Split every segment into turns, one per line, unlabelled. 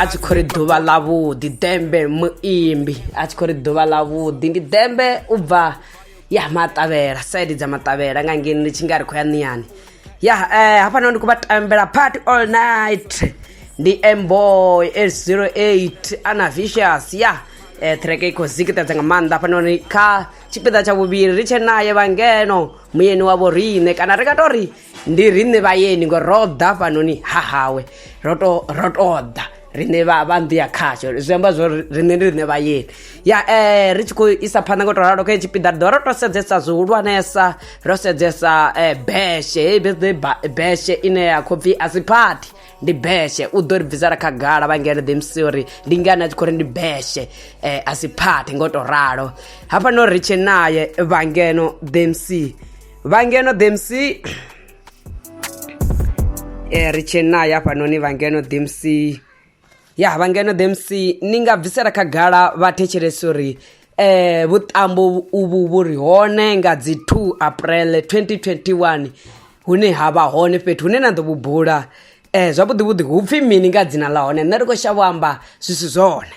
a tshi khou ri ḓuvha ḽa vhuḓi dembe muimbi a tshi khou ri ḓuvha ḽa vhuḓi ndi dembe u bva ya maṱavhela saidi dza maṱavhela nga ngeni ndi tshi nga ri khou ya niyani ya eh, hafhanoni ndi khou vha tambela party all night ndi mboy 808 ana vicious ya eh, treke i khou zikitedza nga maanḓa hafhanoni kha tshipiḓa tsha vhuvhili ri tshe naye vhangeno muyeni wa vhoriṋe kana ri nga tou ri ndi riṋe vhayeni ngo ro ḓa fhanoni ha hawe ro to ro to ḓa riṋe vha vha nḓu ya khasho zwi amba zwo riṋe ndi riṋe vhayeni ya eh ri tshi khou isa phanḓa ngo to ralo kha hetshi piḓa ri ḓo ro to sedzesa zwihulwanesa ro sedzesa eh beshe heyi birthday ba- beshe ine ya khou pfi a si phathi ndi beshe u ḓo ri bvisela khagala vhangele ḓi msi uri ndi ngani a tshi khou ri ndi beshe eh a si phathi ngo to ralo hafha no ri tshe naye vhangeno ḓi msi vha ngeno dmc e ri tshee nayo hafhanoni vha ngeno dmc ya vha ngeno dmc ni nga bvisela khagala vha thetshelesa uri eh vhuṱambo uvhu vhu ri hone nga dzi 2 april 2021 hune ha vha hone fhethu hune na ḓo vhu bula eh zwavhuḓi vhuḓi hu pfhi mini nga dzina ḽa hone nṋe ri khou shavho amba zwi si zwone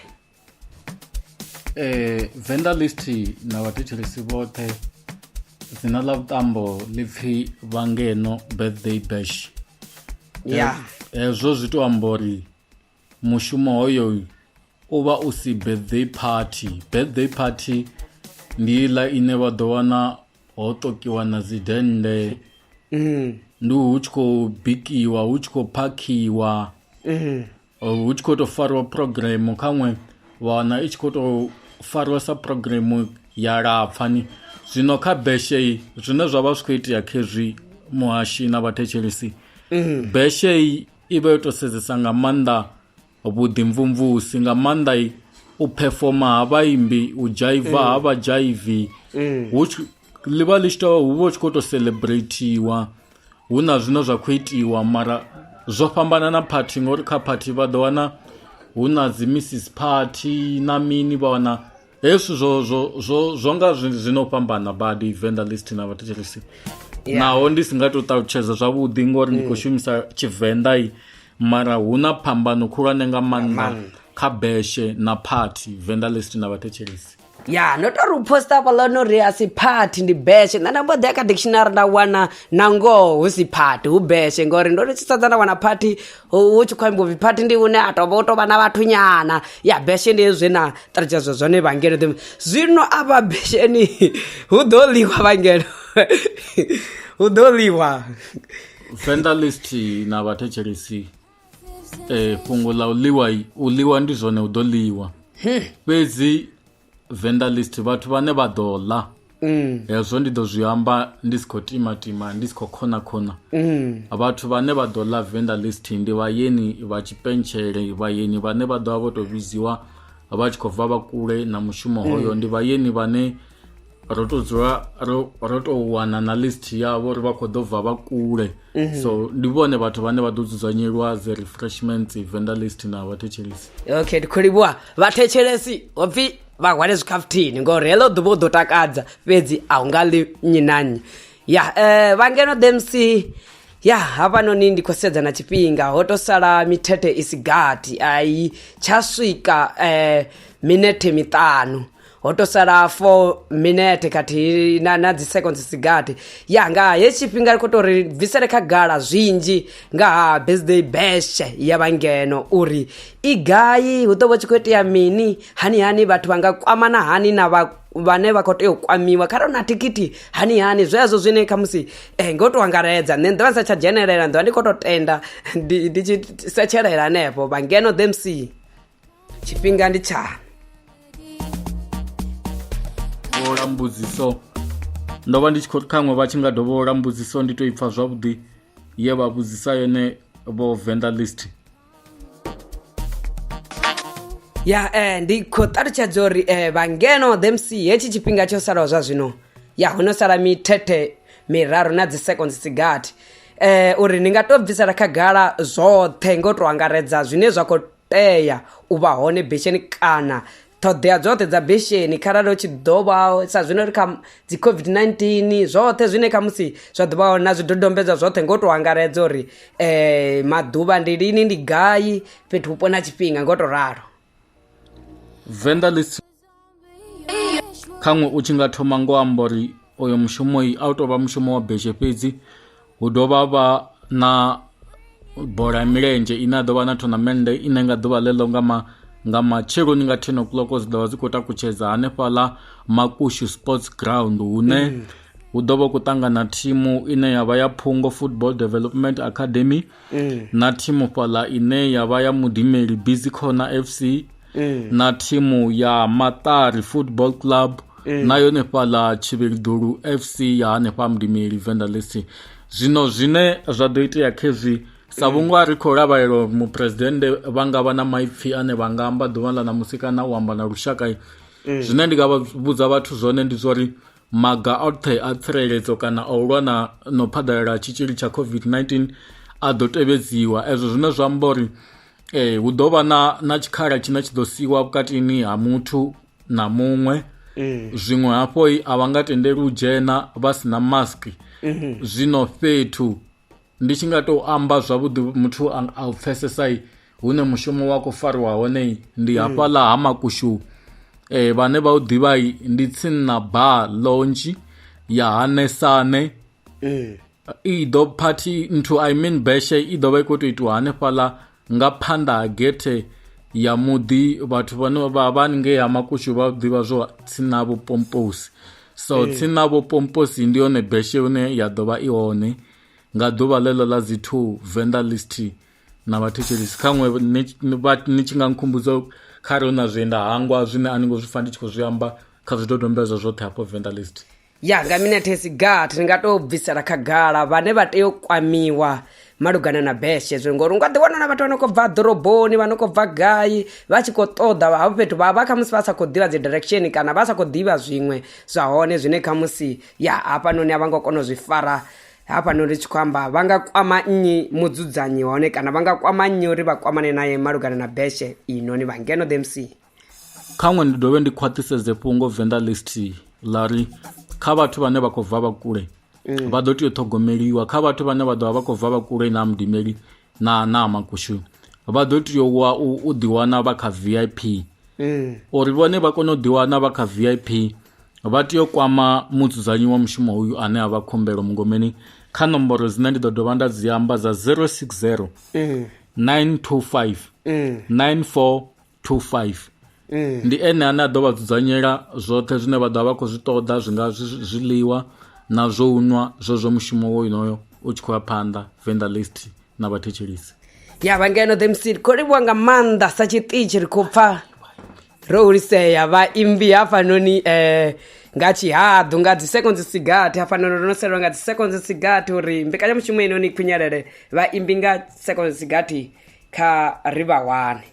eh
vendor list na vhathetshelesi vhoṱhe dzina ḽa vhuṱambo ḽi pfhi vhangeno birthday bash ya
hezwo zwi
to amba uri mushumo hoyo u vha u si birthday party birthday party ndi iḽa ine vha ḓo wana ho tokiwa na dzi dende mm. ndi hu tshi khou bikiwa hu tshi khou phakhiwa mm. hu tshi khou tou fariwa phurogiremu khaṅwe wa wana i tshi khou tou fariwa sa phurogiremu ya lapfani zwino kha beshe zwine zwa vha zwi khou itea khezwi muhashi na vhathetshelesi mm. beshe i vha yo tou sedzesa nga maanḓa vhuḓimvumvusi nga maanḓa u performa ha vhaimbi u dzhaiva mm. ha vhadzhaivi mm. hu ḽi vha ḽi tshi tou hu vha hu tshi khou tou celebratiwa hu na zwine zwa khou itiwa mara zwo fhambana na phathi ngori kha phathi vha ḓo wana hu na dzi missis phathi na mini vha wana hezwi zwo zwo zwo zwo nga zwi no fhambana badi venḓa list na vhathu tshilisi naho ndi si nga to ṱalutshedza zwavhuḓi ngori ndi khou mm. shumisa tshivenḓa i mara hu na phambano khulwane nga maanḓa kha beshe na phathi venḓa list na vhathetshelesi ya ndo tori u
posta hafhaḽa no ri a si phathi ndi beshe nṋe nda mbo ḓi ya kha dictionary nda wana na ngoho hu si phathi hu beshe ngori ndo ri tshi sedza nda wana phathi hu tshi khou amba upfi phathi ndi une a tovha u tovha na vhathu nyana ya beshe ndi hezwi na ṱalutshedzwa zwone vhangelo ḓi zwino a vha besheni hu ḓo ḽiwa vhangelo hu ḓo ḽiwa vendelist
na vhathetshelisi eh, fhungo ḽa u ḽiwa u ḽiwa ndi zwone u ḓo ḽiwa hmm. fhedzi vendalist vhathu vhane vha ḓo ḽa Mm. hezwo ndi ḓo zwi amba ndi si khou timatima ndi si khou khona khona mm. vhathu vhane vha ḓo ḽa venda list ndi vhayeni vha tshipentshele vhayeni vhane vha ḓovha vho to vhidziwa vha tshi khou bva vha kule na mushumo mm. hoyo ndi vhayeni vhane ro to dzula ro ro to wana na list yavho uri vha khou ḓo bva vha kule mhm. so ndi vhone vhathu vhane vha ḓo dzudzanyelwa dzi refreshments vendor list na vhathetshelesi okay ndi khou livhuwa
vhathetshelesi ho pfhi vha hwale zwikhafuthini ngori heḽo ḓuvha u ḓo takadza fhedzi a hu nga ḽi nnyi na nnyi ya um eh, vhangeno dmc ya hafhanoni ndi khou sedza na tshifhinga ho to sala mithethe i si gathi ai tsha swika um minethe miṱanu ho to sala 4 minete khathihi na, na dzi seconds sigati ya nga he tshifhinga ri khou tou ri bvisele khagala zwinzhi nga ha birthday bash ya vhangeno uri i gai hu ḓo vha tshi khou itea mini hani hani vhathu vha nga kwamana hani na vha vhane vha khou tea u kwamiwa kharali na thikhithi hani hani zwezwo zwine khamusi eh, ngo tou angaredza nṋe nḓivha ndi sa tsha dzhenelela nḓivha ndi khou tou tenda ndi ndi tshi setshelela hanefho vhangeno the mc tshifhinga ndi tshani
vhola mbudziso ndo vha ndi tshi khou khaṅwe vha tshi nga dovholola mbudziso ndi to ipfa zwavhuḓi ye vha vhudzisa yone vho venda list
ya eh, ndi khou ṱalutshedza uri eh, vhangeno themc hetshi tshifhinga tsho salaho zwa zwino ya ho no sala mithethe miraru na dzi seconds dzigathi eh, uri ni nga to bvisela khagala zwoṱhe ngo to angaredza zwine zwa khou tea u vha hone besheni kana ṱhoḓea dzoṱhe dza besheni kharali hu tshi ḓo vha sa zwino ri kha dzi covid-19 zwoṱhe zwine kha musi zwa ḓo vha hone na zwidodombedzwa zwoṱhe ngo tou angaredza uri um maḓuvha ndi lini ndi gai fhethu vhupo na tshifhinga ngo tou ralo venḓa
khaṅwe u tshi nga thoma ngo amba uri oyo mushumo a u tou vha mushumo wa beshe fhedzi hu dovha vha na bola ya milenzhe ine a ḓo vha na thonamennde ine nga ḓuvha ḽeḽo nga ma nga matsheloni nga ten o'clock dzi ḓovha dzi khou takutshedza hanefhaḽa makushu sports ground hune mm. hu ḓo vha khou ṱangana thimu ine ya vha ya phungo football development academy na thimu fhaḽa ine ya vha ya mudimeli busy corner fc na thimu ya maṱari football club na yone fhaḽa tshivhilidulu fc ya hanefha mudimeli venda lesi zwino zwine zwa ḓo itea khezwi sa vhunga ri khou lavhelela uri muphuresidennde vha nga vha na maipfhi ane vha nga amba ḓuvha ḽa ṋamusi kana u amba na lushaka zwine ndi nga vha vhudza vhathu zwone ndi zwa uri maga oṱhe a tsireledzo kana a u lwa na no phaḓalala tshitzhili tsha covid-19 a ḓo tevhedziwa ezwo zwine zwa amba uri eh hu ḓo vha na na tshikhala tshine tshi ḓo siwa vhukatini ha muthu na muṅwe eh. zwiṅwe hafho a vha nga tendeli u dzhena vha si na mask eh. zwino fhethu Ndi tshi nga tou amba zwavhuḓi muthu a u pfesesa hune mushumo wa khou fariwa hone ndi mm. hafhaḽa ha makushu eh vhane vha u ḓivha ndi tsinna ba lonzhi ya hanesane eh. i ḓo phathi nthu i mean beshe i ḓo vha i khou tou itiwa hanefhaḽa nga phanḓa ha gethe ya muḓi vhathu vhane vha vha ngei ha makushu vha ḓivha zwo tsina vho pomposi so eh. tsina vho pomposi ndi yone beshe hune ya ḓo vha i hone nga ḓuvha ḽeḽo ḽa dzi two venḓa list na vhathetshelisi kha ṅwe ni tshi nga nkhumbudza kha re hu na zwienda hangwa zwine a ni ngo zwi fa ndi tshi khou zwi amba kha zwidodombedzwa zwoṱhe hafho venḓa list ya nga minethe
si gathi ni nga to bvisela khagala vhane vha tea u kwamiwa malugana na beshe zwo ngori u nga ḓi wana na vhathu vha no khou bva ḓoroboni vha no khou bva gai vha tshi khou ṱoḓa havho fhethu vha vha khamusi vha sa khou ḓivha dzi direction kana vha sa khou ḓivha zwiṅwe zwa hone zwine khamusi ya hafhanoni a vha ngo kona u zwi fara hafhano ri tshi khou amba vha nga kwama nnyi mudzudzanyi hone kana vha nga kwama nnyi uri vha kwamane naye malugana na beshe inoni vha ngeno the mc khaṅwe ndi
dovhe ndi khwaṱhisedze fhungo venḓa list ḽa ri kha vhathu vhane vha khou bva vha kule mm. vha ḓo tea u ṱhogomeliwa kha vhathu vhane vha ḓovha vha khou bva vha kule na mudimeli na na makushu vha ḓo tea u wa- u u ḓiwana vha kha vip uri vhone vha kone u ḓiwana vha kha vip vha tea u kwama mudzudzanyi wa mushumo uyu ane a vha khumbelo mungomeni kha nomboro dzine ndi ḓo dovha nda dzi amba dza 060 925 94 25 ee. ndi ene ane a ḓo vha dzudzanyela zwoṱhe zwine vha ḓo vha vha khou zwi ṱoḓa zwi nga zwiḽiwa na zwo u nwa zwo zwo mushumo wo inoyo u tshi khou ya phanḓa venda list na vhathetshelisi ya vha ngeno the
mc ri khou livhuwa nga maanḓa sa tshiṱitshi ri khou pfa ro hulisea vhaimbi hafhanoni um eh, nga tshihaḓu nga dzi seconds sigathi hafhanoni ro no selwa nga dzi seconds sigathi uri mbekanyamushumo inoni khwinyelele vhaimbi nga seconds sigathi kha ri vha wane